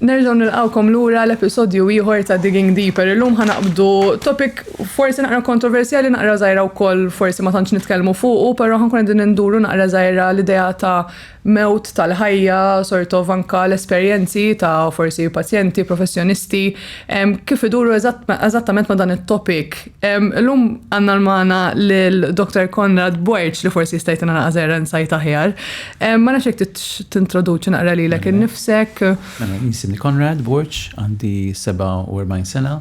Nerġgħu nilqawkom lura l-episodju ieħor ta' Digging Deeper. Illum ħanaqbdu topic forsi naqra kontroversjali naqra żgħira wkoll forsi ma tantx nitkellmu fuqu, però ħankun qegħdin induru naqra żgħira l-idea ta' mewt tal-ħajja, sort of anka l-esperjenzi ta' forsi pazjenti, professjonisti, kif iduru eżattament ma' dan it-topic Illum għanna l-mana l-Dr. Konrad Borċ li forsi jista' jtina naqżer insajt aħjar. Ma nafx jekk tintroduċi naqra lilek innifsek. Mela, jinsimni Konrad Borċ, għandi 47 sena,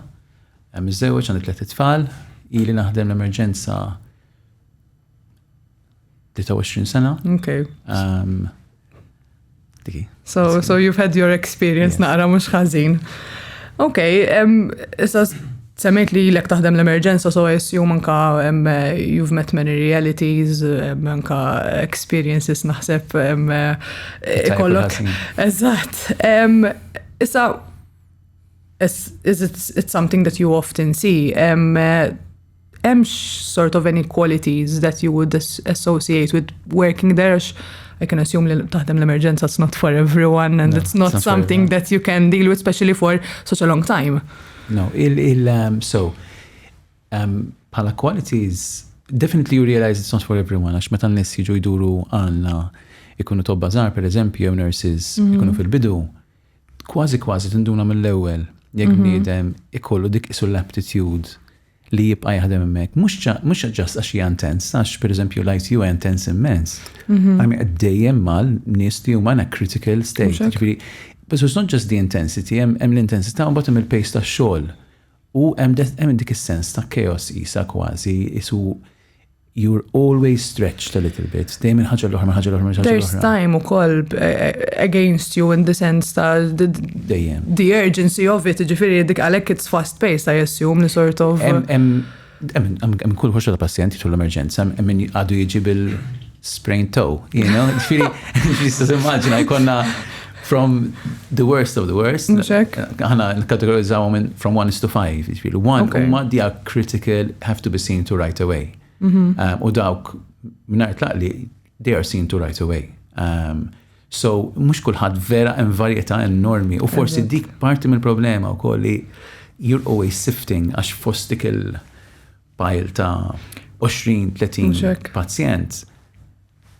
miżżewġ għandi tliet tfal, ili naħdem l-emerġenza 23 sena. Okay. Um, diki. So, so you've had your experience yes. naqra mux ħazin. Ok, um, issa semmejt li l-ek taħdem l-emerġenza, so I assume anka um, you've met many realities, um, anka experiences naħseb um, ikollok. Eżat. Um, issa, is, is it, it's something that you often see. Um, hemmx sort of any qualities that you would associate with working there għax I can assume li taħdem l-emerġenza it's not for everyone and no, it's not it's something not that you can deal with especially for such a long time. No, il, il um, so um, pala qualities definitely you realize it's not for everyone għax meta n-nies jiġu jduru għandna ikunu tobba żgħar pereżempju jew nurses mm -hmm. ikunu fil-bidu Kważi kważi tinduna mill-ewwel jekk mhm. bniedem ikollu dik isu l-aptitude li jibqa' jaħdem hemmhekk. Mhux ġast għax hija intens, għax pereżempju l-IT huwa intens immens. Mhm. Għamil qed dejjem mal nies li huma na critical state. Ġifieri, but it's not just the intensity, hemm l-intensità u mbagħad hemm il-pace tax-xogħol. U hemm dik is-sens ta' chaos qisha kważi, qisu you're always stretched a little bit, dejjem minn ħaġa l-oħra, minn ħaġa l-oħra, minn ħaġa l-oħra. There's time ukoll against you in the sense ta' the urgency of it, ġifieri dik għalhekk it's fast paced I assume li sort of. Hemm kull ħoġġa ta' pazjent jiġu l-emerġenza, hemm min għadu jiġi bil-sprain toe, you know? Ġifieri, tista' timmaġina jkollna from the worst of the worst. Aħna nkategorizzaw minn from one to five, ġifieri. One huma they are critical, have to be seen to right away. Mhm. U dawk mingħajr tlaqli they are seen to right away. So, mhux kulħadd vera hemm varjetà enormi u forsi dik parti mill-problema wkoll li you're always sifting għax fost dik il-pile ta' 20-30 pazjent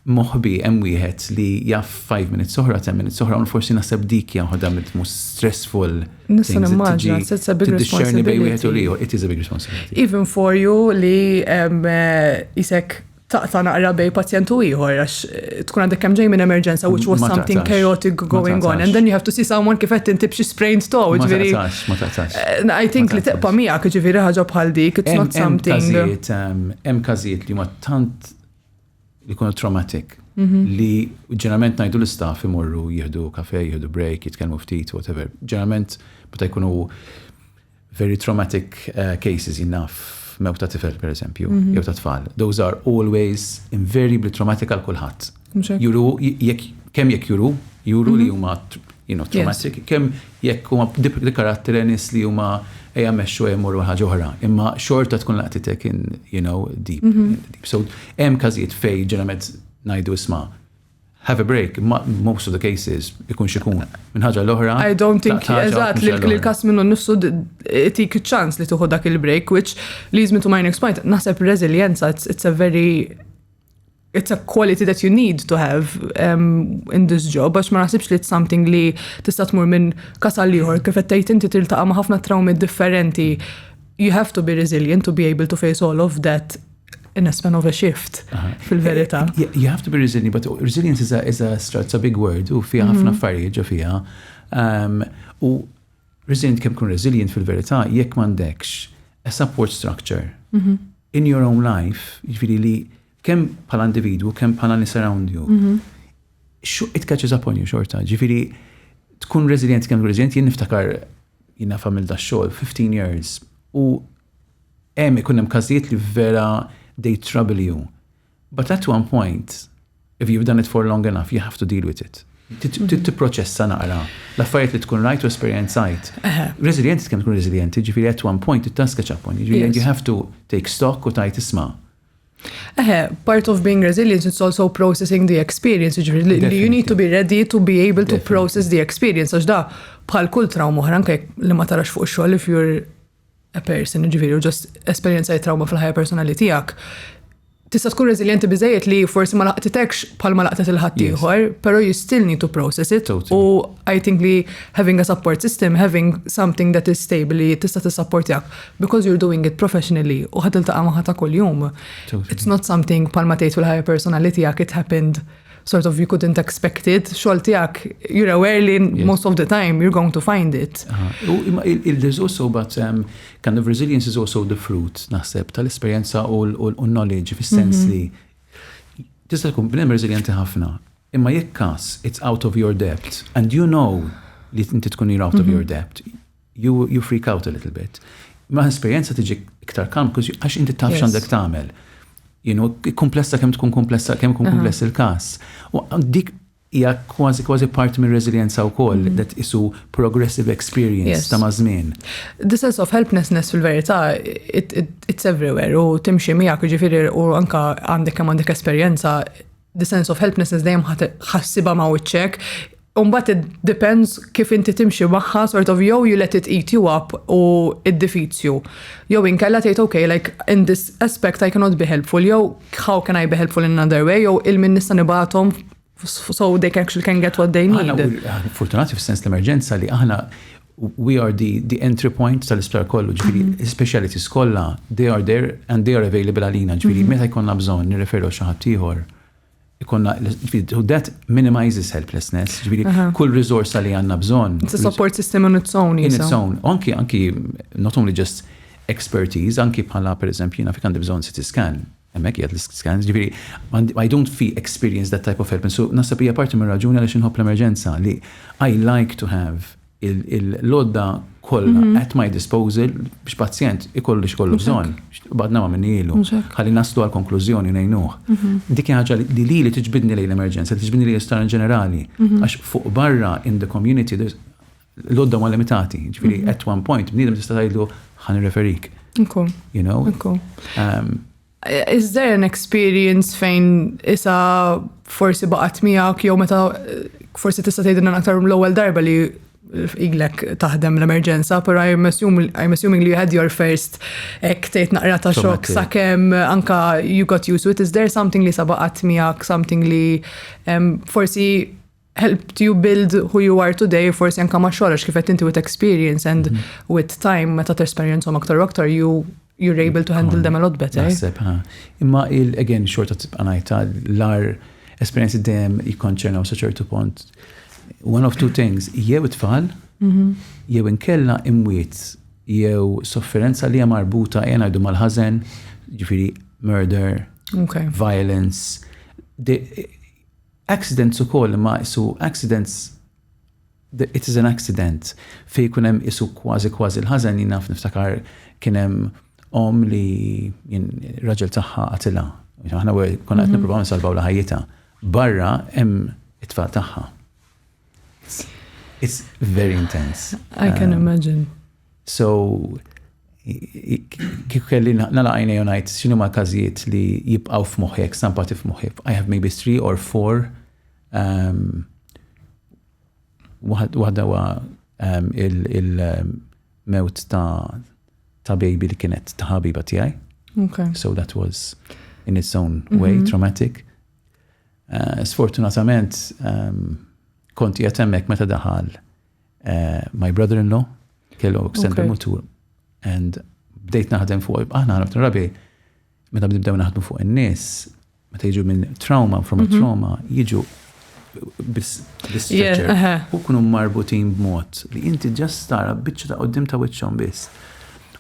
moħbi hemm wieħed li jaf 5 minutes oħra, 10 minutes oħra, un forsi naħseb dik jaħodha mit mus stressful. Nista' nimmaġina, it's a big responsibility. Bej wieħed u liħor, it is a big responsibility. Even for you li jisek eh, taqta' naqra bejn pazjent u ieħor għax eh, tkun għandek kemm ġej minn emerġenza which was something chaotic going on and then you have to see someone kif qed inti b'xi sprained toe ġifieri. Ma taqtax. Eh, I think li teqpa' miegħek ġifieri ħaġa bħal dik it's not something. Ehm, hemm każijiet li ma tant li jkunu traumatic mhm. li ġeneralment ngħidu l-istaff imorru jieħdu kafe, jieħdu break, jitkellmu ftit, whatever. Ġeneralment meta jkunu Very traumatic cases, jien naf mewt ta' tifel per eżempju, jew ta' tfal. Those are always invariably traumatic għal kulħadd. Juru, jekk kemm jekk juru, juru li huma you know, traumatic, kemm jekk huma li karattri nis li huma ejja mexxu ejja morru ħaġa oħra, imma xorta tkun laqtitek in, you know, deep, deep. So, hemm każijiet fej ġeneralment ngħidu isma' Have a break, imma in most of the cases, ikun x'ikun, minn ħaġa għal oħra, I don't think, tlaqt ħaġa u eżatt, tmexxi li għall-oħra. l-każ minnu nnifsu d- itik iċ-ċans li tieħu dak il-break, which leads me to my next point. Naħseb reżiljenza, it's, it's a very it's a quality that you need to have um, in this job, għax ma naħsibx li it's something li tista' tmur minn kas għal ieħor, kif qed tgħid inti tiltaqa' ma' ħafna trawmi differenti. You have to be resilient to be able to face all of that in a span of a shift, fil-verità. You have to be resilient, but resilience is a, is a, it's a big word, u fija ħafna mhm. affarijiet ġo fija. Um, u resilient kem kun resilient fil-verità, jekk mandekx a support structure mhm. in your own life, ġviri li kem pala individu, kem pala li surround you, mhm. it catches up on you xorta, ġviri tkun resilient kem resilient, jien niftakar jina famil da xol, 15 years, u hemm ikun hemm każijiet li vera they trouble you. But at one point, if you've done it for long enough, you have to deal with it. Trid tipproċessa naqra l-affarijiet li tkun rajt u esperjenzajt. Reżiljenti tkun tkun reżiljenti, ġifieri at one point it-taska ċapon, ġifieri you have to take stock u tajt isma'. Eħe, part of being resilient is also processing the experience, ġifiri, you need to be ready to be able to process the experience, għax da bħal kull trauma oħra, anke li ma tarax fuq xogħol if you're a person, jiġifieri u ġost esperjenzajt trawma fil-ħajja personali tiegħek, tista' tkun reżiljenti biżejjed li forsi ma laqtitekx bħal ma laqtet il-ħadd ieħor, però you still need to process it. U I think li having a support system, having something that is stable li tista' tissapportjak because you're doing it professionally u ħad iltaqa' magħha ta' kuljum. It's not something bħal ma tgħid fil-ħajja personali tiegħek it happened sort of you couldn't expect it, xol tijak, you're aware li most of the time you're going to find it. There's also but um, kind of resilience is also the fruit, naħseb, tal-esperienza u l-knowledge fis-sens mhm. li tista' tkun bnem resilienti ħafna, imma jekk kas it's out of your debt and you know li inti tkun you're out of mhm. your debt, You you freak out a little bit. Ma' esperjenza tiġi iktar calm because għax inti taf x'għandek tagħmel. You know, komplessa kemm tkun komplessa, kemm ikun kompless il-każ. U dik hija kważi kważi parti mir-reżiljenza wkoll li tqisu progressive experience ta' maż-żmien. The sense of helplessness fil-verità it's everywhere u timxi miegħek jiġifieri u anke għandek kemm għandek esperjenza the sense of helplessness dejjem ħassiba ma' wiċċek, Umbat it depends kif inti timxi magħha sort of jew you let it eat you up u id-difizju. Jew inkella tgħid okay like in this aspect I cannot be helpful jew how can I be helpful in another way jew il-min nista' nibgħathom so they can actually can get what they need. Fortunati fis-sens l-emerġenza li aħna We are the, the entry point tal-isptar kollu, ġifiri, mm -hmm. specialities kollha, they are there and they are available għalina, ġifiri, mm -hmm. meta jkollna bżonn nirreferu xi ħadd ieħor. Ikonna, ġifiri, that minimizes helplessness, ġifiri, uh -huh. kull risorsa li għandna bżonn. It's a support system on its own, In its own. Anki, anki, not only just expertise, anki bħala, per eżempju, jina fik għandi bżonn CT scan, Hemmhekk qiegħed l-iscan. Jiġifieri I don't fee experience that type of help and so naħseb hija parti mir-raġuni għaliex inħobb l-emerġenza li I like to have il-lodda kollha at my disposal biex pazjent ikollu li xkollu bżonn. Badna ma minni ilu. Ħalli naslu għal konklużjoni ngħinuh. Dik ħaġa li lili tiġbidni lejn l-emerġenza, tiġbidni lejn l-isptar in ġenerali. Għax fuq barra in the community L-għodda ma limitati, ġifiri, mhm. at one point, bniedem tista' tgħidlu ħa nirreferik. Nku. You know? Nku. Um, Is there an experience fejn isa forsi baqat miegħek jew meta forsi tista' tgħidilna aktar l-ewwel darba li iglek taħdem l-emerġenza, pero I'm, assume, I'm assuming you had your first ek tejt naqra ta' xok sakem anka you got used to it. Is there something li sabaqat miegħek, something li um, forsi helped you build who you are today, forsi anka ma xogħolx kif qed inti with experience and mm. with time meta tesperjenzhom aktar u aktar you you're able to handle them a lot better. Naħseb, ha. Imma il again xorta tibqa' ngħidha l-ar esperjenzi dejjem jikkonċernaw sa ċertu punt. One of two things, jew it-tfal, mhm. jew inkella imwiet, jew sofferenza li hija marbuta jena jdu mal-ħażen, ġifieri murder, violence, Accidents ukoll imma qisu accidents the it is an accident fejn ikun hemm qisu kważi kważi l-ħażen jien naf niftakar kien hemm omm li jien raġel tagħha qatilha. Aħna konna qed nippruvaw nsalvawlha ħajjitha. Barra hemm it-tfal tagħha. It's very intense. I can imagine. So, kif kelli nala għajnej u ngħid x'inhu ma' każijiet li jibqgħu f'moħħi jekk stampati f'moħħi. I have maybe three or four um, waħda wa um, il-mewt um, ta' ta' baby li kienet ta' ħabiba tiegħi. Okay. So that was in its own way mm -hmm. traumatic. Uh, sfortunatament um, konti jatemmek meta daħal Eh, my brother-in-law kellu accident okay. mutur and bdejt naħdem fuq, aħna ħarab rabi, meta bdibdew naħdmu fuq in-nies, meta jiġu minn trauma, from a mhm. trauma, jiġu bis-stretcher. Uh-huh. U kunu marbutin b'mod li inti ġast tara biċċa ta' qoddim ta' wiċċhom biss.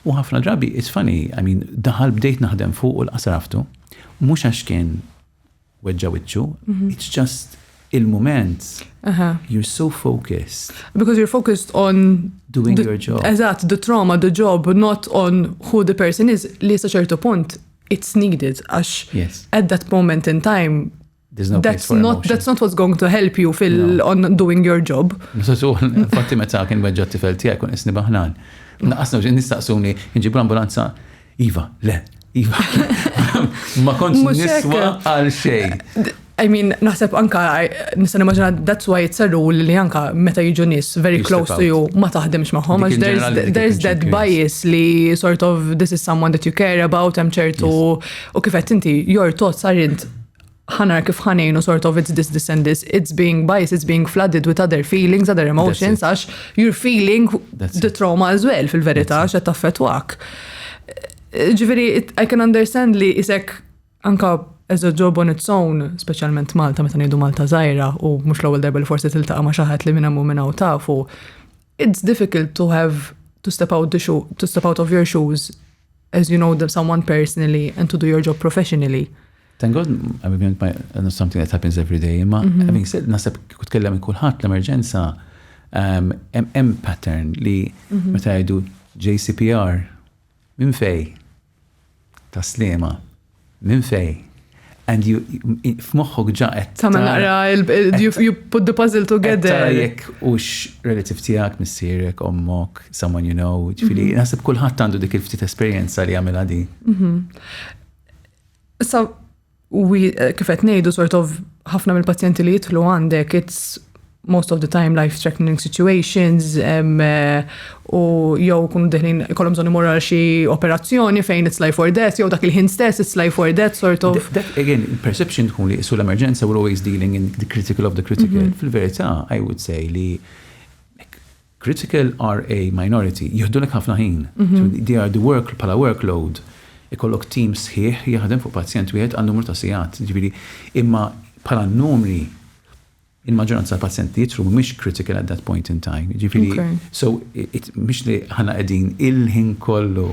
U ħafna drabi, it's funny, I mean, daħal bdejt naħdem fuq u l-qasraftu, mux għax kien weġġa' wiċċu, it's just il-mument you're so focused. Because you're focused on doing your job. Eżatt, the trauma, the job, not on who the person is, li sa ċertu punt it's needed għax yes. at that moment in time There's no that's not emotion. that's not what's going to help you fil no. on doing your job. Fatti meta kien weġġa tifel tiegħek kun isni baħnan. Naqasna ġin nistaqsuni nġibu ambulanza Iva, le, Iva, ma kontx niswa għal xej. I mean, naħseb anka, nistan immaġina, that's why it's a rule li anka meta jiġu nis very close to you ma taħdimx maħħom, għax there's that bias li sort of this is someone that you care about, hemm ċertu, u kifet inti, your thoughts are int Ħa nara kif ħa ngħinu sort of it's this, this and this, it's being biased, it's being flooded with other feelings, other emotions, għax you're feeling the trauma as well fil-verità, għax qed taffetwak. Ġifieri, I can understand li isek anka as a job on its own, speċjalment Malta meta ngħidu Malta żgħira u mhux l-ewwel darba li forsi tiltaqa' ma' xi ħadd li minn hemm u minn hawn tafu, it's difficult to have to step out the shoe, to step out of your shoes as you know someone personally and to do your job professionally. Thank God, I mean, I know something that happens every day, ma mhm. having said, nasab kut kellem kullħat l-emerġenza, um, hemm pattern li mhm. meta jgħidu JCPR minn fej ta' slema. Minn fejn? And you, f'moħħok ġa qed. Tagħmel naqra, you put the puzzle together. Tara jekk hux relative tiegħek, missierek, ommok, someone you know, ġifieri, mhm. naħseb kulħadd għandu dik il-ftit esperjenza li għamilha din. Mhm. Issa, eh, kif qed ngħidu sort of ħafna mill-pazjenti li jidħlu għandek, it's most of the time life threatening situations um, u jew kunu deħlin kolom bżonn imorru għal xi operazzjoni fejn it's life or death jew dak il-ħin stess it's life or death sort of. That, again, perception tkun li sul l-emerġenza we're always dealing in the critical of the critical. Mm -hmm. Fil-verità, I would say li critical are a minority, jihdu l ħafna ħin. Mm -hmm. so they are the work, pala workload ikollok team sħiħ jaħdem fuq pazjent wieħed għal numru ta' sigħat. Ġifieri imma bħala numri Il-maġġoranza tal-pazjenti jidhru mhumiex critical at that point in time, jiġifieri so mhux li aħna qegħdin il-ħin kollu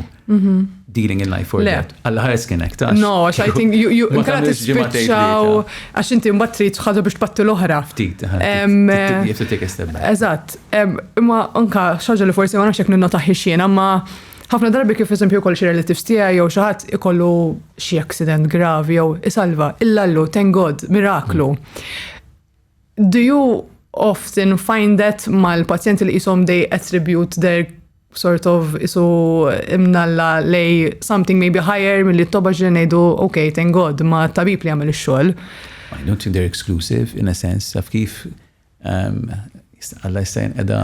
dealing in life or death. Alla ħares kien hekk, taf? No, għax I think inkella tispiċċaw għax inti mbagħad trid xi ħaġa biex tbatti l-oħra. Ftit, you have to take a step back. Eżatt. Imma anke xi ħaġa li forsi ma nafx jekk ninnotahiex jiena, imma Ħafna darbi kif eżempju jkolli xi relatives tiegħi jew xi ħadd ikollu xi accident gravi jew isalva, illallu, thank God, miraklu. Do you often find that mal-pazjenti li jisom they attribute their sort of isu imnalla lej something maybe higher mill-li t-toba ġri nejdu, ok, thank God, ma tabib li għamil xol. I don't think they're exclusive in a sense, taf kif Alla jista' jinqeda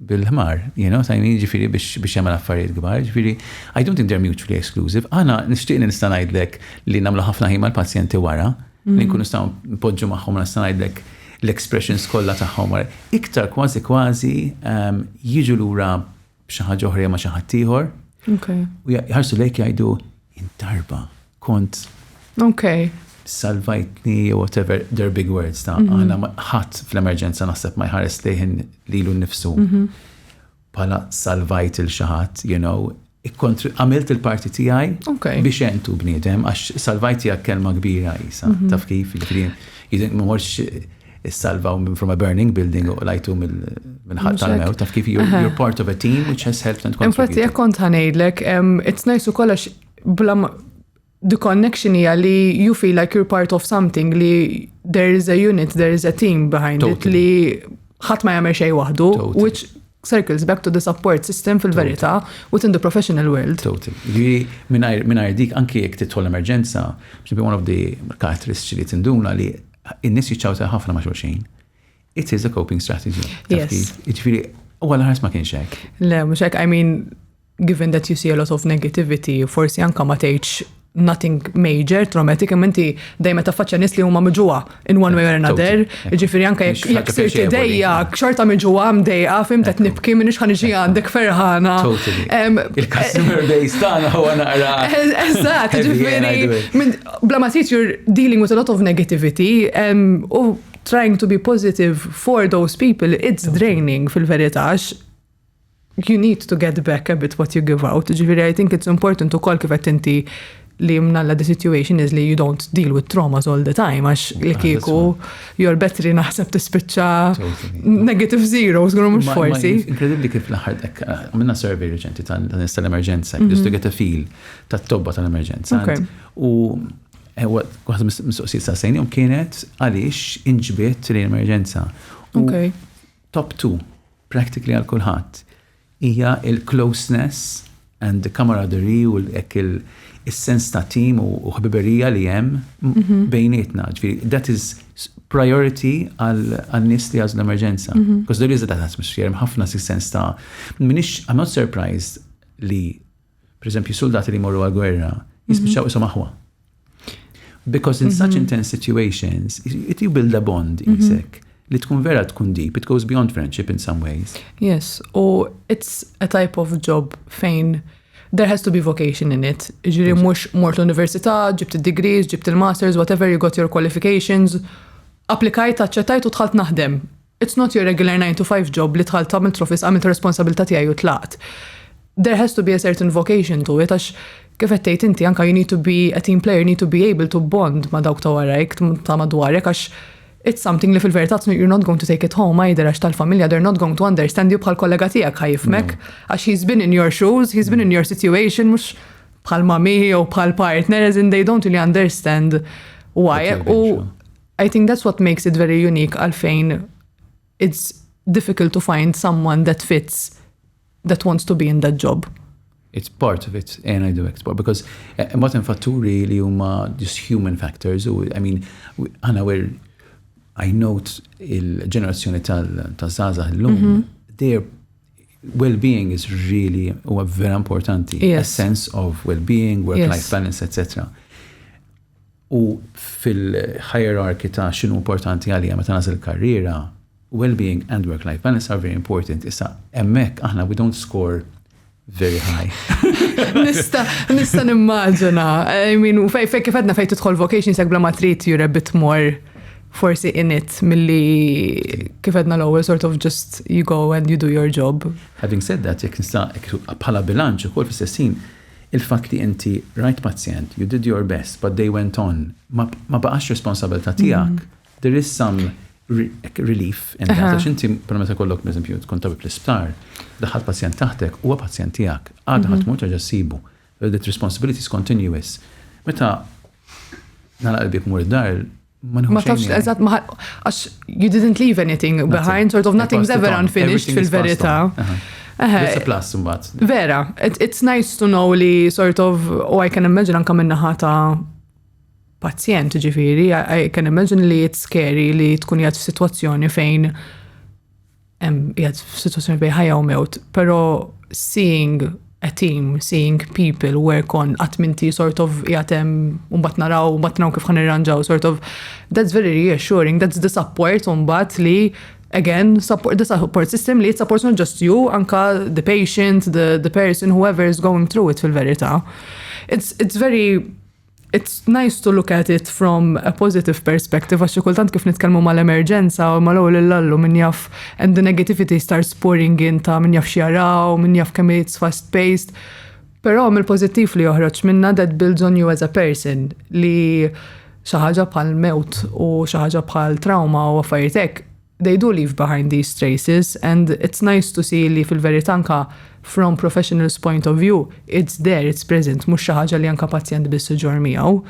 bil-ħmar, you know, sa' ġifiri biex jagħmel affarijiet kbar, ġifiri, I don't think they're mutually exclusive. Għana nixtieq li nista' ngħidlek li nagħmlu ħafna ħin mal-pazjenti wara, li mm. nkunu staw npoġġu magħhom nista' ngħidlek l-expressions kollha tagħhom wara. Iktar kważi kważi jiġu lura b'xi ħaġa oħra jew ma' xi ħadd ieħor. U jħarsu lejk jgħidu intarba kont. Ok. Salvajtni jew whatever their big words ta' mhm. aħna ħadd fl-emerġenza naħseb ma jħares lejħin lilu nnifsu. Mhm. Pala salvajt il xaħat, you know, għamilt il-parti tijaj biex entu bnidem, għax salvajt tijak kelma kbira jisa, mhm. taf kif, ġifri, jidin morx issalvaw minn from a burning building u lajtu minn ħadd tal-mewt, taf kif you're part of a team which has helped and contributed. Infatti, jek kont ħanejdlek, it's nice u kollox bla the connection hija li you feel like you're part of something li there is a unit, there is a team behind it li ħadd ma jagħmel xejn waħdu, which circles back to the support system fil-verità within the professional world. Total. Ġiri, minnajr dik anki jek titħol emerġenza, ġibi one of the karatteristiċi li tinduna li in-nies jiċċawta ħafna ma' xulxin. It is a coping strategy. Ġifieri, u għal ħars ma kienx hekk. Le, mhux hekk, I mean, given that you see a lot of negativity, forsi anka ma tgħidx nothing major, traumatic, imma inti dejjem ta' faċċa nies li huma miġuwa in one way or another. Ġifieri anke jekk sirt idejja, xorta miġuwa mdejqa, fim qed nibki minn x'ħan iġi għandek ferħana. Il-customer base tagħna huwa naqra. Eżatt, ġifieri Bla ma tgħid you're dealing with a lot of negativity u trying to be positive for those people, it's draining fil-verità you need to get back a bit what you give out. Ġifiri, I think it's important u kol kifet inti li mnalla the situation is li you don't deal with traumas all the time, għax li ah, kiku you're better naħseb tispiċċa negative zero, zgħru mux forsi. Inkredibli kif laħardek, minna survey reċenti tal-nista l-emerġenza, just to mhm. get a feel tat-tobba tal-emerġenza. U eh, waħda mis-soqsijiet sa' sejnijom kienet għaliex inġbiet l-emerġenza. U top 2, practically għal kulħadd, hija il-closeness and the camaraderie u l-ek il-sens ta' tim u ħbiberija li jem mhm. bejnietna. Ġviri, that is priority għal-nis li għazlu emerġenza. Because there is a that atmosphere, ħafna si sens ta' minix, I'm not surprised li Pereżempju, suldati li jmorru għall-gwerra jispiċċaw ishom aħwa. Because in such intense situations, it you build a bond isek li tkun vera tkun deep, it goes beyond friendship in some ways. Yes, u it's a type of job fejn there has to be vocation in it. Ġiri mux mort l-università, ġibt il-degrees, ġibt il-masters, whatever you got your qualifications, applikajt, aċċettajt u tħalt naħdem. It's not your regular nine to five job li dħalt għamilt l-office għamilt ir-responsabilità tiegħi u tlaqt. There has to be a certain vocation to it għax kif qed tgħid inti anke you need to be a team player, you need to be able to bond ma' dawk ta' warajk, ta' madwarek għax it's something li fil-verità you're not going to take it home either għax tal-familja they're not going to understand you bħal kollega tiegħek ħajfmek għax he's been in your shoes, he's been in your situation mhux bħal mami jew bħal partner as in they don't really understand why. U I think that's what makes it very unique għalfejn it's difficult to find someone that fits that wants to be in that job. It's part of it, and I do export, because eh, eh, motin fatturi li huma just human factors, u, I mean, għana għer, I note il-ġenerazzjoni tal-zaza l-lum, mhm. their well-being is really, u vera importanti, a sense of well-being, work-life balance, etc. u fil-hierarchy ta' x'inhu importanti għalija meta nagħżel karriera, well-being and work-life balance are very important. Issa, hemmhekk aħna we don't score very high. Nista, nista nimmaġina, I mean, u fej, fej kifedna fej tidħol vocation sek bla ma trid you're a bit more forsi in it milli kifedna l-ewwel sort of just you go and you do your job. Having said that, jekk nista' bħala bilanċ ukoll fis-sessin, Il-fatt li inti rajt pazjent, you did your best, but they went on, ma baqax responsabilità tiegħek. There is some relief in that. Għax inti, per meta kollok, per eżempju, tkun tabib l-isptar, daħħal pazjent taħtek, huwa pazjent tiegħek, għadha ħadd mhux terġa' ssibu. That responsibility is continuous. Meta nagħlaq il-bieb mur id-dar, Ma tafx eżatt ma għax you didn't leave anything behind, sort of nothing's ever unfinished fil-verità. It's a plus imbagħad. Vera, it's nice to know li sort of, u I can imagine anka minn naħa ta' pazjent ġifieri, I can imagine li it's scary li tkun jgħad f'sitwazzjoni fejn jgħad f'sitwazzjoni bej ħajja u mewt, pero seeing a team, seeing people work on għatminti sort of jgħatem unbat naraw, unbat naraw kif ħanirranġaw, sort of that's very reassuring, that's the support unbat li again, support, the support system li support not just you, anka the patient, the, the person, whoever is going through it fil-verita. It's, it's very it's nice to look at it from a positive perspective, għax kultant kif nitkellmu mal-emerġenza u mal-ewwel l-allu minn jaf and the negativity starts pouring in ta' minn jaf xjaraw, minn jaf kemm it's fast paced. Però mill-pożittiv li joħroġ minna that builds on you as a person li xi ħaġa bħal mewt u xi ħaġa bħal trauma u affarijiet hekk they do leave behind these traces and it's nice to see li fil-verità anke from professional's point of view it's there, it's present, mhux xi ħaġa li anke pazjent biss iġorr miegħu.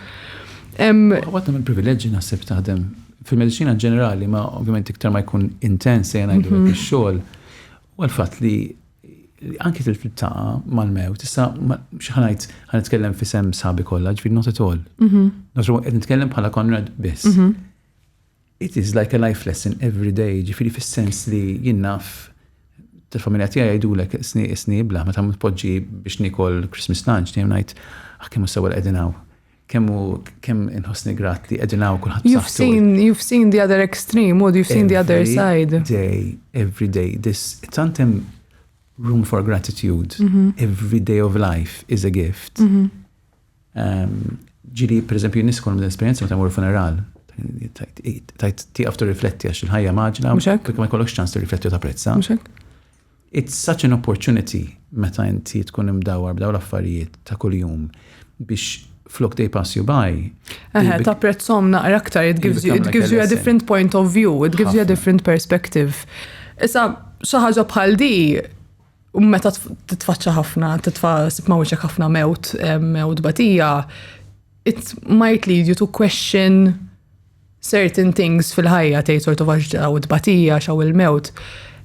Waħda mill-privileġġi naħseb taħdem fil-mediċina ġenerali ma ovvjament iktar ma jkun intens se ngħidu mhm. ix-xogħol u l-fatt li anki tiltaqa mal-mew, tista' xaħnajt għan nitkellem fi sem sabi kollha, ġifieri not at all. Mhm. Not at all, nitkellem bħala Konrad biss. Mhm. It is like a life lesson every day, ġifiri fis-sens li jien naf tal-familja tiegħi jgħidulek sni sni blah meta tpoġġi biex nikol Christmas lunch dejjem ngħid ah kemm sewwa qegħdin hawn. Kemm kemm inħossni grat li qegħdin hawn kulħadd You've seen you've seen the other extreme or you've seen the other side. Every day, every day this tantem room for gratitude. Mm -hmm. Every day of life is a gift. Mm -hmm. Ġili, per eżempju, nis kolom l-esperienza meta jmur funeral. Tajt tiqaf tu rifletti għax il-ħajja maġna. Muxek. Ma jkollokx ċans tu rifletti u ta' prezza. Muxek. It's such an opportunity meta inti tkun imdawar b'daw l-affarijiet ta' kuljum biex flok they pass you by. Eħe, ta' prezzom naqra aktar, it gives you, it gives you a different point of view, it gives you a different perspective. Issa, xaħġa bħal di, U meta titfaċċa ħafna, titfa' sibma wiċċek ħafna mewt, mewt batija, it might lead you to question certain things fil-ħajja tgħid sortu għax ġaw it-batija, xaw il-mewt.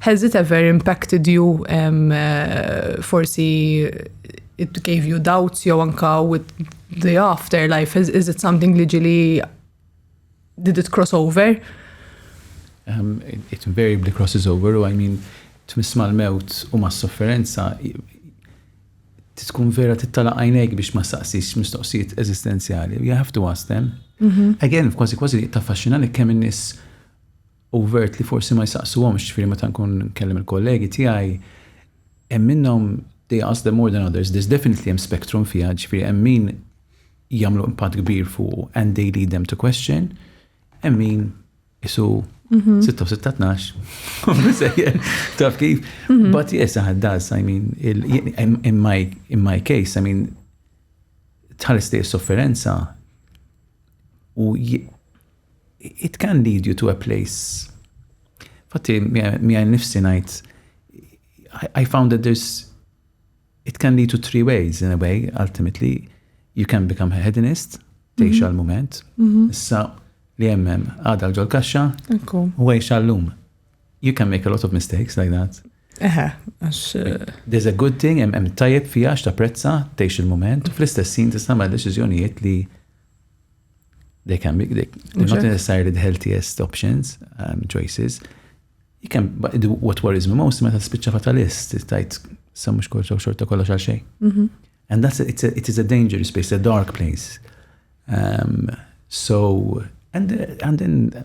Has it ever impacted you um, uh, forsi it gave you doubts jew anka with the afterlife is, is it something li ġili Did it cross over? Um, it, it invariably crosses over, u I mean, tmiss mal-mewt u mas-sofferenza tkun vera tittala għajnejk biex ma saqsix mistoqsijiet eżistenzjali. You have to ask them. Mm -hmm. Again, kważi kważi taffaxxina li kemm in-nies u vert li forsi ma jsaqsuhomx, ġifieri meta nkun nkellem il-kollegi tiegħi, hemm minnhom they ask them more than others, there's definitely hemm spectrum fiha, ġifieri hemm min jagħmlu impatt kbir fuqu and they lead them to question, hemm min isu 6-6-12, mhm. taf kif, mhm. but yes, it does, I mean, in my, in my case, I mean, tħares li sofferenza U it can lead you to a place. Fatti, mi għaj nifsi najt, I found that there's, it can lead to three ways in a way, ultimately. You can become a hedonist, teħx mhm. għal-moment, mhm. issa li jemmem għada l-ġol kaxxa, u għajx għallum. You can make a lot of mistakes like that. Eħe, għax. Eh, There's a good thing, hemm tajjeb fija għax ta' prezza, tgħix il-moment, u fl-istessin tista' ma' deċiżjonijiet li they can be, they, they're not necessarily the healthiest options, um, choices. You can, but do what worries me most, meta spiċċa fatalist, tajt, sa mux kol xorta kollox għal xej. Mhm. And that's, a, it's a, it is a dangerous place, a dark place. Um, so, and, and then,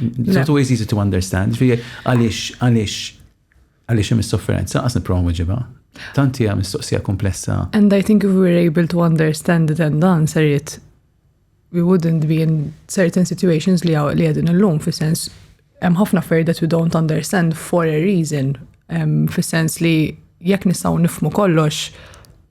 It's not always easy to understand. Għaliex, għaliex, għaliex hemm is-sofferenza, għas nipprova nweġibha. Tanti hija mistoqsija komplessa. And I think if we were able to understand it and dan ser jit we wouldn't be in certain situations li għaw li għedin l-lum, fi sens hemm ħafna fair that we don't understand for a reason, um, fi sens li jekk nistgħu nifmu kollox,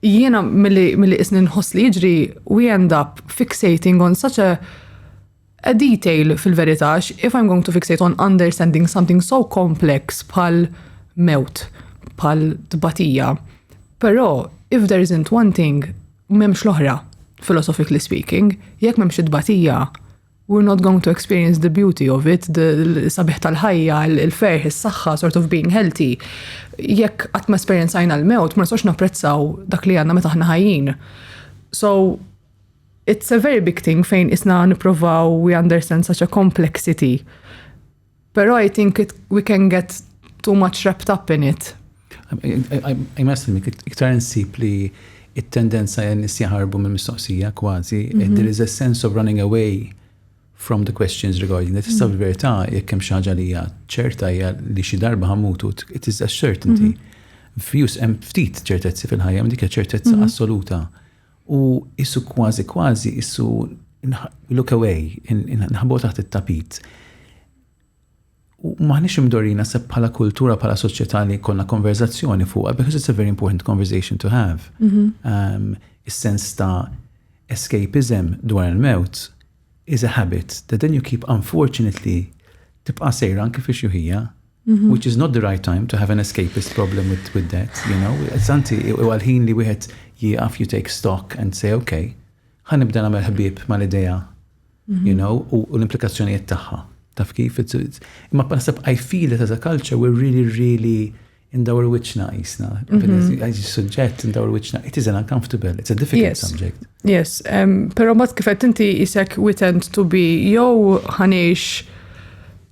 Jiena milli milli qisni nħoss li jiġri we end up fixating on such a a detail fil-verità għax if I'm going to fixate on understanding something so complex bħal mewt, bħal tbatija. Però if there isn't one thing, m'hemmx l-oħra, philosophically speaking. Jekk m'hemmx it-tbatija, We're not going to experience the beauty of it, sabiħ tal-ħajja, il-ferħ, is-saħħa, sort of being healthy. Jekk qatt ma esperjenzajna l-mewt, ma nistax napprezzaw dak li għandna meta aħna ħajjin. So, it's a very big thing fejn isna nipprovaw we understand such a complexity Pero I think it, we can get too much wrapped up in it. I must admit, iktar nsib li it-tendenza jen nis jaharbu minn mistoqsija kważi, mhm. there is a sense of running away from the questions regarding that. Tista' mhm. fil-verità jekk hemm xi ħaġa li hija ċerta hija li xi darba ħamutu, it is a certainty. Mhm. Fjus hemm ftit ċertezzi fil-ħajja, dik ċertezza assoluta. U issu kważi kważi issu look away, nħabu taħt it-tapit. U maħniex imdorina se bħala kultura, bħala soċjetà li konna konverzazzjoni fuqha, because it's a very important conversation to have. Mhm. Um, is-sens ta' escapism dwar il-mewt is a habit that then you keep unfortunately tibqa' sejra anke fi xuħija. Which is not the right time to have an escapist problem with, with that, you know. Santi, u għalħin li wieħed jieqaf you take stock and say, okay, ħan nibda nagħmel ħbieb mal-idea, you mhm. know, u l-implikazzjonijiet tagħha. Taf kif? Imma naħseb I feel it as a culture we're really, really indawr wiċna jisna. Mhm. Għajġi suġġett indawr wiċna. It is an uncomfortable, it's a difficult yes. subject. Yes, um, pero mat kifet inti jisek we tend to be jow ħanix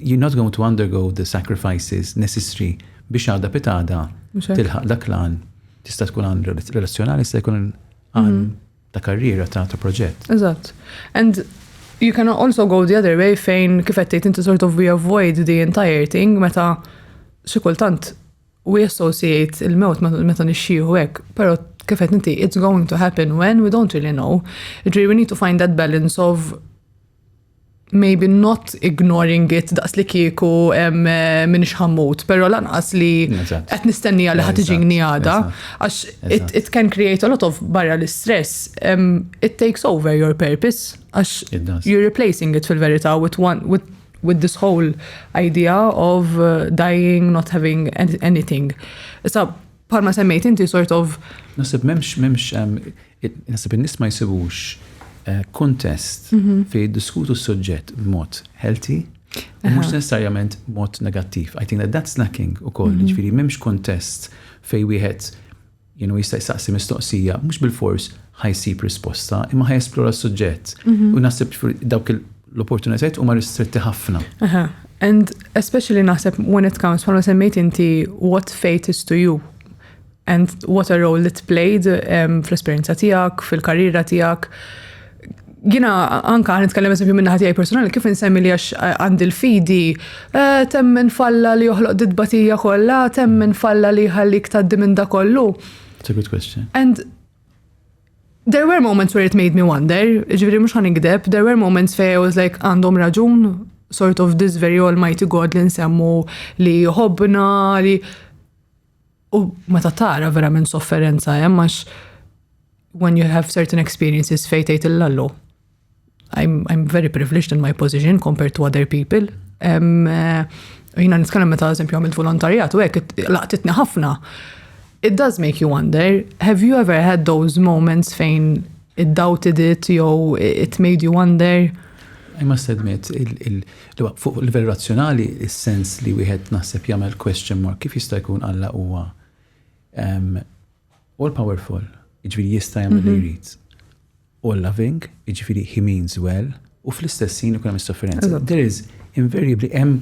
you're not going to undergo the sacrifices necessary biex għada pitada tilħaq dak l-għan tista' tkun għan relazzjonali, tista' jkun għan mhm. ta' karriera, ta' ta' proġett. Eżatt. And you can also go the other way fejn kif qed inti sort of we avoid the entire thing meta xi kultant we associate il-mewt meta nixxieħu hekk, però kif qed inti it's going to happen when we don't really know. Ġri we need to find that balance of maybe not ignoring it daqs li kieku eh, minn xħammut, pero lanqas li qed nistennija li ħad iġini għada, għax it can create a lot of barra l-stress, it takes over your purpose, għax you're replacing it fil-verita with one, with with this whole idea of uh, dying, not having anything. Issa, parma semmejt inti sort of. Nasib memx, memx, um, Naħseb in-nies ma jsibux kuntest fejn jiddiskutu s-suġġett b'mod healthy u mhux necessarjament b'mod negattiv. I think that that's lacking ukoll, jiġifieri m'hemmx kuntest fejn wieħed jista' jsaqsi mistoqsija mhux bilfors ħa jsib risposta imma ħa jesplora s-suġġett. U naħseb dawk l-opportunitajiet huma ristretti ħafna. Aha, and especially naħseb when it comes bħalma semmejt inti what fate is to you. And what a role it played um, fl-esperienza tijak, fil-karriera tijak. Jina anka għan nitkellem eżempju minna ħatijaj personali, kif nsemmi li għax eh, għandi l-fidi, eh, temmen falla li joħloq didbatija kolla, temmen falla li ħallik taddi minn da kollu. It's a good question. And there were moments where it made me wonder, ġviri mux għan ikdeb, there were moments fej I was like, għandhom raġun, sort of this very almighty God li nsemmu li jħobna, li U meta tara verament sofferenza hemm għax when you have certain experiences fejn tgħid il-lallu. I'm, I'm very privileged in my position compared to other people. Um, uh, jina nitkellem meta eżempju għamilt volontarjat u hekk laqtitni ħafna. It does make you wonder, have you ever had those moments fejn it doubted it jew it made you wonder? I must admit, Imma fuq livell razzjonali, is-sens li wieħed naħseb jagħmel question mark, kif jista' jkun Alla huwa all powerful, jiġifieri jista' jagħmel li jrid, all loving, jiġifieri he means well, u fl-istess ħin ikun hemm is-sofferenza. There is invariably hemm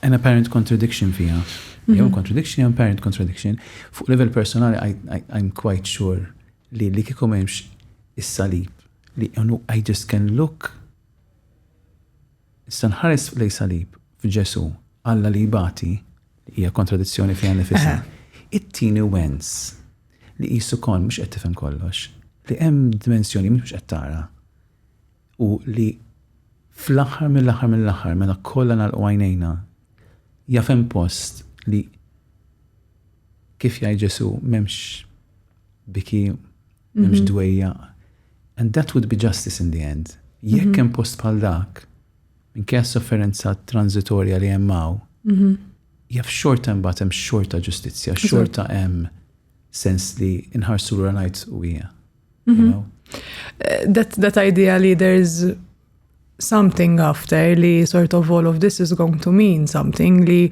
an apparent contradiction fiha. Mhm. Jew contradiction, jew apparent contradiction. Fuq level personali, I, I, I'm quite sure li li kikum hemmx is-salib li unu I just can look Issa nħares lejn salib f'Ġesù, Alla li jbati, li hija kontradizzjoni fiha nnifisha, ittini wens li qisu kont mhux qed tifhem kollox, li hemm dimensjoni mhux qed tara u li fl-aħħar mill-aħħar mill-aħħar meta kollha nagħlqu għajnejna jaf hemm post li kif jgħid Ġesù m'hemmx biki M'hemmx dwejjaq. And that would be justice in the end. Jekk hemm post bħal dak, minkejja s-sofferenza transitorja li hemm hawn, jaf xorta imbagħad hemm xorta ġustizzja, xorta hemm sens li nħarsu lura ngħid u hija. That, that idea li there is something after li sort of all of this is going to mean something li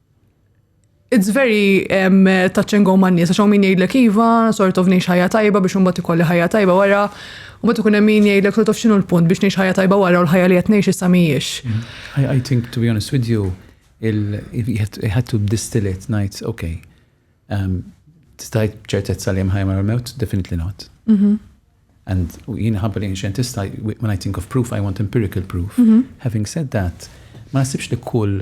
It's very um, touch and go man nies, għax min jgħidlek iva, sort of ngħix ħajja tajba biex imbagħad ikolli ħajja tajba wara, u mbagħad ikun hemm min jgħidlek sort of x'inhu l-punt biex ngħix ħajja tajba wara u l-ħajja li qed ngħix issa mhijiex. Mm-hmm. I think to be honest with you, you had to distill it, ngħid, okay, um, tistajt ċertezza li hemm ħajja wara l-mewt, definitely not. Mm-hmm. And jien ħabba li xjentista, when I think of proof, I want empirical proof. Mm-hmm. Having said that, ma nasibx li kull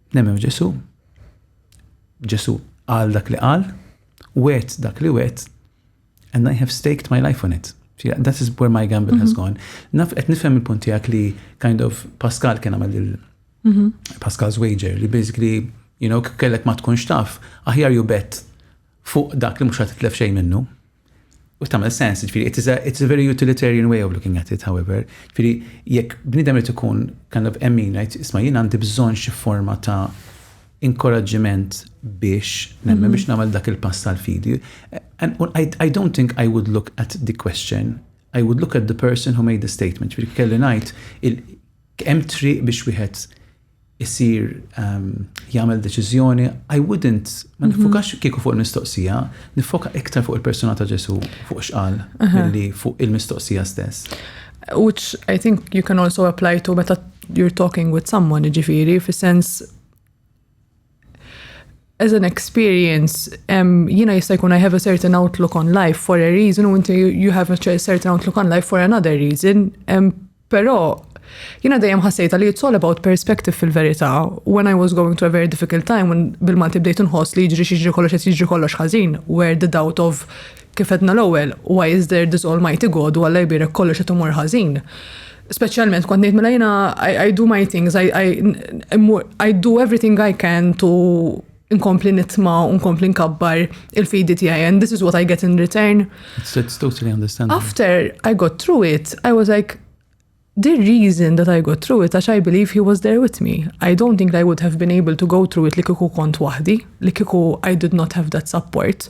Nemmen f'Ġesu'. Ġesu' qal dak li qal, wet dak li wet, and I have staked my life on it. That is where my gamble has mhm. gone. Naf qed nifhem il-punt tiegħek li kind of Pascal kien għamel il mhm. Pascal's wager li basically you know kellek ma tkunx taf aħjar ju bet fuq dak li mhux ħad titlef xejn minnu. U tagħmel sens, ġifieri it is a, it's a very utilitarian way of looking at it, however. Ġifieri jekk bniedem irid ikun kind of emmin ngħid isma' jien għandi bżonn xi forma ta' inkoraġġiment biex nemmen mhm. biex nagħmel dak il-pass tal-fidi. And I, I don't think I would look at the question. I would look at the person who made the statement. Ġifieri kelli ngħid hemm triq biex wieħed isir jagħmel deċiżjoni, I wouldn't, ma mhm. nifokax kieku fuq il-mistoqsija, nifoka iktar fuq il-persuna ta' Ġesu, fuq xqal, milli fuq il-mistoqsija stess. Which I think you can also apply to meta you're talking with someone, ġifiri, fi sens as an experience, um, you know, jista' jkun I have a certain outlook on life for a reason u inti you have a certain outlook on life for another reason. Um, Però jina dejjem ħassejta li it's all about perspective fil-verità. When I was going through a very difficult time, when bil-Malti bdejt nħoss li jiġri xieġri kollox qed jiġri kollox ħażin, where the doubt of kif edna l-ewwel, why is there this almighty God u għalla jbirek kollox qed imur ħażin. Speċjalment kont ngħid mela jiena I, I do my things, I, I, I do everything I can to nkompli nitma u nkompli nkabbar il-fidi tiegħi and this is what I get in return. It's, it's totally understandable. After I got through it, I was like, the reason that I got through it, għax I believe he was there with me. I don't think I would have been able to go through it li kiku kont wahdi, li kiku I did not have that support.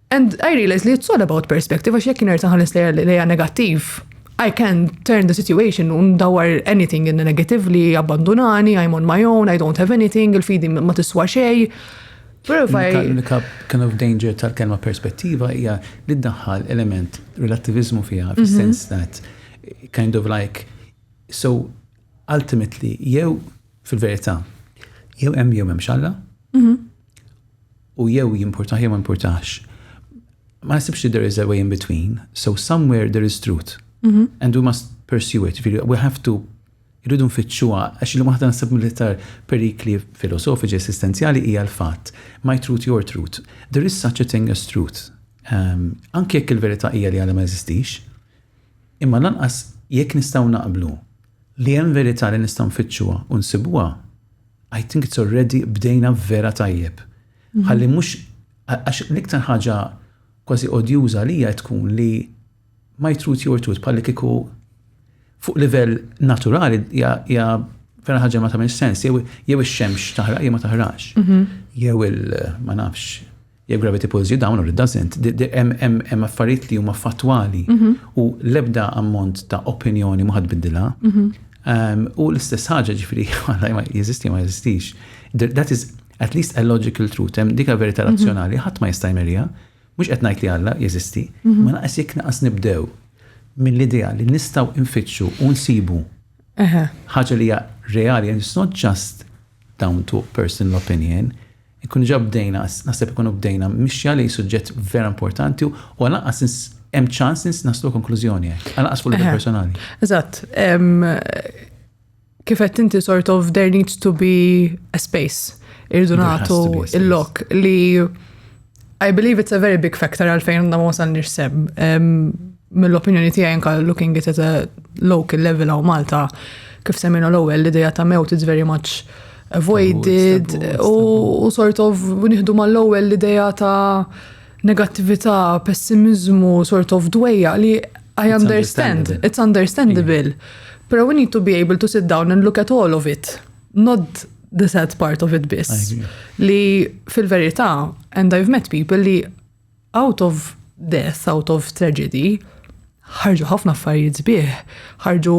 And I realize li it's all about perspective, għax jekk nerġa' ħares lejha negattiv, I can turn the situation un dawar anything in the negative li abbandunani, I'm on my own, I don't have anything, il-fidi ma tiswa xej. L-unika kind of danger tal-kelma perspettiva hija li ddaħħal element relativizmu fiha, mhm. sense that kind of like, so ultimately, jew fil-verità, jew hemm jew hemm xalla, mhm. u jew jimpurtah jew ma jimpurtahx. Ma nasibx li there is a way in between, so somewhere there is truth. Mm -hmm. And we must pursue it, we have to irridu nfittxuha, għax li waħda nsib mill-iktar perikli filosofiċi esistenzjali hija l-fatt. My truth, your truth. There is such a thing as truth. Um, anke jekk il-verità hija li għadha ma eżistix, imma lanqas jekk nistgħu naqblu Li hemm verità li nistgħu nfittxuha u nsibuha, I think it's already bdejna vera tajjeb. Ħalli mhux, għax l-iktar ħaġa kważi odjuża għalija tkun li my truth your truth bħalli kieku fuq livell naturali hija vera ħaġa ma tagħmel sens, jew ix-xemx taħraq jew ma taħraqx. Mhm. Jew il ma nafx Jekk gravity pulls you down or it doesn't, hemm affarijiet li huma fattwali mhm. u l-ebda ammont ta' opinjoni ma ħadbiddilha. Mhm. Ehm, u l-istess ħaġa ġifri, ma jeżisti ma jeżistix. That is at least a logical truth, hemm dika verità mhm. razzjonali, ħadd ma jista' jmerja, mhux qed ngħid li Alla jeżisti, ma naqas jekk naqas nibdew mill-idea li nistgħu infittxu u nsibu ħaġa li hija reali, and it's not just down to personal opinion, Inkunu ġa bdejna, naħseb inkunu bdejna mixja lejn suġġett vera importanti u għal anqas ins, hemm ċans ins naslu konklużjoni hekk, għal anqas fuq livell personali. Eżatt. Kif qed inti sort of there needs to be a space. Irdu nagħtu il-lok li I believe it's a very big factor għalfejn għandna ma wasalniex sem. Mill-opinjoni tiegħi anka looking at a local level għaw Malta, kif seminu l-ewwel l-idea ta' mewt is very much avoided u sort of nieħdu mal-ewwel l-idea ta' negattività, pessimizmu, sort of dwejja li I understand, it's understandable. Pero we need to be able to sit down and look at all of it. not the sad part of it biss. Li fil-verità, and I've met people li out of death, out of tragedy, ħarġu ħafna affarijiet sbieħ, ħarġu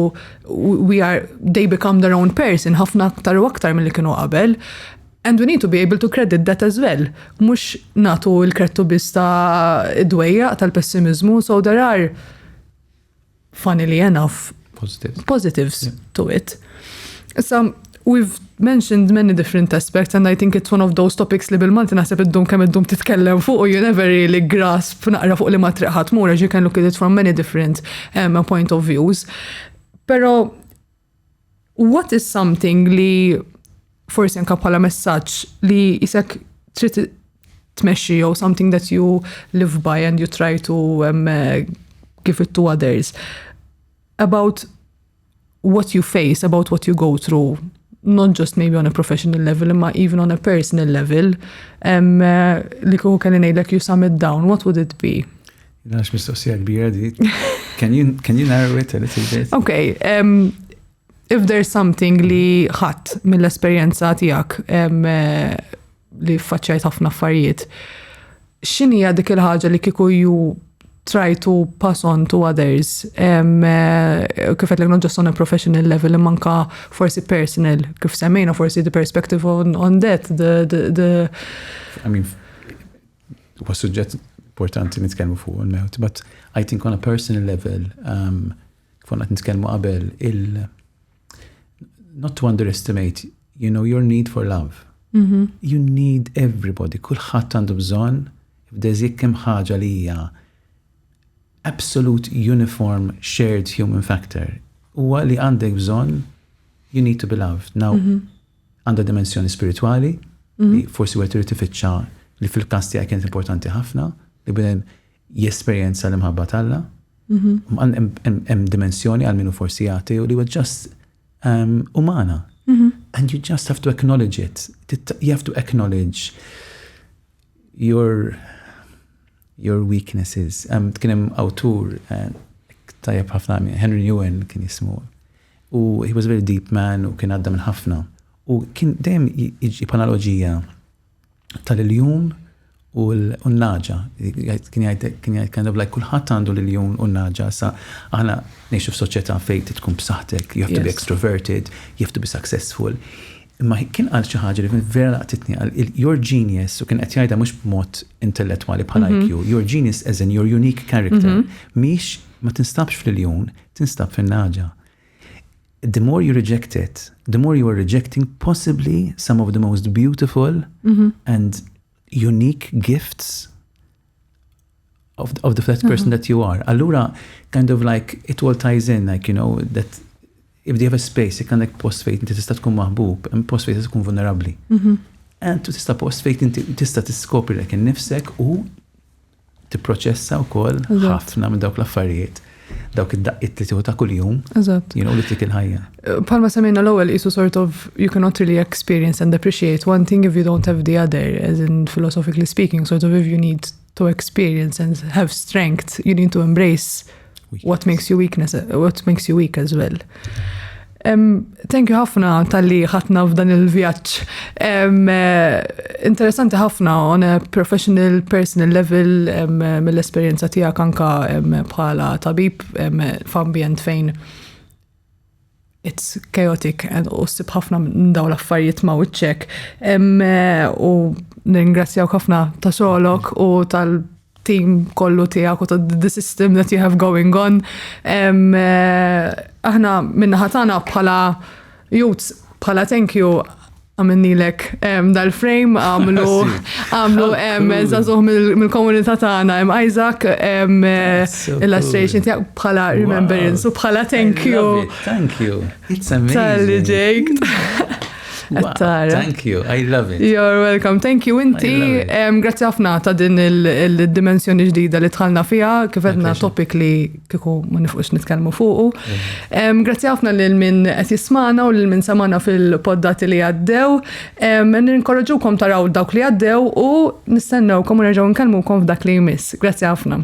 we are they become their own person ħafna aktar u aktar mill-li kienu qabel. And we need to be able to credit that as well. Mux natu il-krettu bista dwejja tal-pessimizmu, so there are funnily enough, positives, positives yeah. to it. Issa, we've mentioned many different aspects and I think it's one of those topics li bil-Malti naħseb id-dum kemm id-dum titkellem fuq u you never really grasp naqra fuq li ma triqħat mura you can look at it from many different um, point of views. Pero What is something li forsi anka bħala messaġġ li jisek trid tmexxi jew something that you live by and you try to um, uh, give it to others about what you face, about what you go through, not just maybe on a professional level, imma even on a personal level, um, uh, li kuhu kelli ngħidlek you sum it down, what would it be? Għax mistoqsija kbira di. Can you, can you narrow it a little bit? Okay, um, if there's something li ħadd mill-esperjenza tiegħek um, li faċċajt ħafna affarijiet, x'inhija dik il-ħaġa li kieku ju try to pass on to others. Um, uh, kif għetlek not just on a professional level, manka forsi personal, kif semmejna forsi the perspective on, on that, the, the, the... I mean, Huwa suġġett importanti nitkellmu fuq il-mewt, but I think on a personal level, um, kif qed nitkellmu qabel, il not to underestimate, you know, your need for love. Mm -hmm. You need everybody, kulħadd għandu bżonn, f'deż jekk hemm ħaġa li hija absolute uniform shared human factor. Huwa li għandek bżonn you need to be loved. Now, mm -hmm. Għandha dimensjoni spiritwali li forsi wieħed irid ifittxa li fil-każ tiegħi kienet importanti ħafna li bnedem jesperjenza l-imħabba t'Alla. Hemm dimensjoni għal minnu forsi jagħti u li huwa ġast ehm, umana. And you just have to acknowledge it. You have to acknowledge Your Your Weaknesses. Um, kien hemm awtur eh, tajjeb ħafna Henry Newen kien jismu. U he was a very deep man u kien għadda minn ħafna. U kien dejjem iġib analoġija tal-iljun u l-naġa. Kien jgħid kind of like kulħadd għandu l-iljun u l-naġa. Sa aħna ngħixu f'soċjetà fejn tkun b'saħħtek, you have to be extroverted, you have to be successful. Imma kien qal xi ħaġa li vera laqtitni qal you're genius u kien qed jgħidha mhux b'mod intellettwali bħal mhm. IQ, you're genius as in your unique character. Mhm. Mhix ma tinstabx fl-iljun, tinstab fin-naġa. The more you reject it, the more you are rejecting possibly some of the most beautiful mm -hmm. and unique gifts of, of the first person uh -huh. that you are. Allura, kind of like, it all ties in, like, you know, that if they have a space, jek għandek post fejt inti tista' tkun maħbub, hemm post fejt tkun vulnerabli. Mhm. And tu tista' post fejt inti tista' tiskopri lek innifsek u tipproċessa wkoll ħafna minn dawk l-affarijiet dawk id-daqqiet li tieħu ta' kuljum. Eżatt. Jien li tik il-ħajja. Eh, palma semmejna l-ewwel qisu sort of you cannot really experience and appreciate one thing if you don't have the other, as in philosophically speaking, sort of if you need to experience and have strength, you need to embrace weakness. what makes you weakness, what makes you weak as well. Thank you ħafna tal-li ħatna f'dan il-vjaġġ. Eh, interessanti ħafna on a professional, personal level mill-esperjenza tiegħek anka bħala tabib f'ambjent fejn it's chaotic and u sib ħafna minn dawn l-affarijiet ma' wiċċek. Eh, u ningrazzjaw ħafna ta' xogħlok u tal- team kollu tiegħek u ta' the system that you have going on. Eh, aħna minna ħatana bħala youths bħala thank you għamennilek dal-frame, għamlu għamlu zazuħ mill-komunità tagħna hemm Isaac illustration tiegħek bħala remembrance u bħala thank you. Thank you. Tal-li ġejk. Thank you, I love it. You're welcome, thank you inti. Grazzi ħafna ta' din il-dimensjoni ġdida li tħalna fija, kif għedna topic li kiku ma nifqux nitkellmu fuqu. Grazzi ħafna lil min qed jismana u lil min samana fil-poddati li għaddew. Ninkoraġukom taraw dawk li għaddew u nistennewkom u nerġgħu nkellmukom f'dak li jmiss. Grazzi ħafna.